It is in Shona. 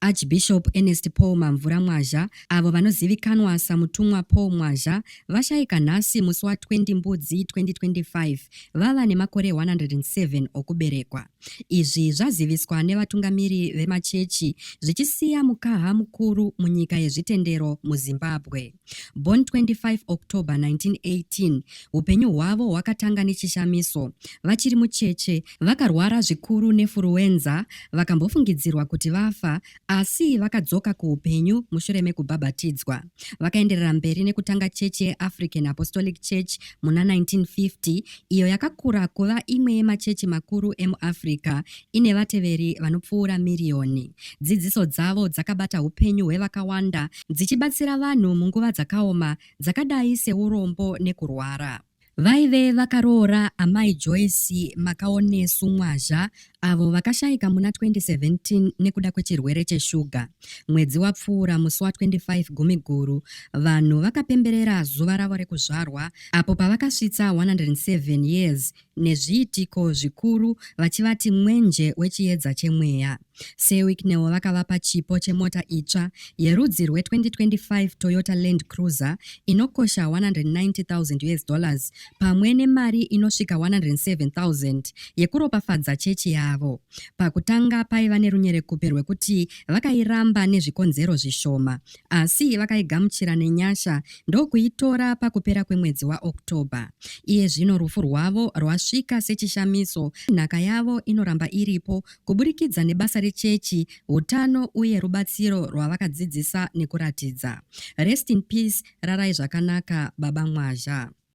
Archbishop Ernest Paul Mamvura Mwazha, avo vanozivikanwa saMutumwa Paul Mwazha, vashaika nhasi musi wa 20 Mbudzi 2025 vava nemakore 107 okuberekwa. Izvi zvaziviswa nevatungamiri vemachechi zvichisiya mukaha mukuru munyika yezvitendero muZimbabwe. Born 25 October 1918, upenyu hwavo hwakatanga nechishamiso. Vachiri mucheche, vakarwara zvikuru nefuruwenza, vakambofungidzirwa kuti vafa, asi vakadzoka kuupenyu mushure mekubhabhatidzwa. Vakaenderera mberi nekutanga chechi yeAfrican Apostolic Church muna 1950, iyo yakakura kuva imwe yemachechi makuru emuAfrica, ine vateveri vanopfuura miriyoni. Dzidziso dzavo dzakabata upenyu hwevakawanda dzichibatsira vanhu munguva dzakaoma dzakadai seurombo nekurwara. Vaive vakaroora Amai Joyce Makaonesu Mwazha avo vakashaika muna 2017 nekuda kwechirwere cheshuga. Mwedzi wapfuura musi wa 25 Gumiguru, vanhu vakapemberera zuva ravo rekuzvarwa apo pavakasvitsa 107 years nezviitiko zvikuru vachivati mwenje wechiedza chemweya. SeWicknell vakavapa chipo chemota itsva yerudzi rwe-2025 Toyota Land Cruiser inokosha 190,000 US dollars pamwe nemari inosvika 107,000 yekuropafadza chechi yavo. Pakutanga paiva nerunyerekupe rwekuti vakairamba nezvikonzero zvishoma Asi vakaigamuchira nenyasha ndokuitora pakupera kwemwedzi waOctober. Iye zvino rufu rwavo rwasvika sechishamiso, nhaka yavo inoramba iripo kuburikidza nebasa rechechi, utano uye rubatsiro rwavakadzidzisa nekuratidza. Rest in peace, rarai zvakanaka Baba Mwazha.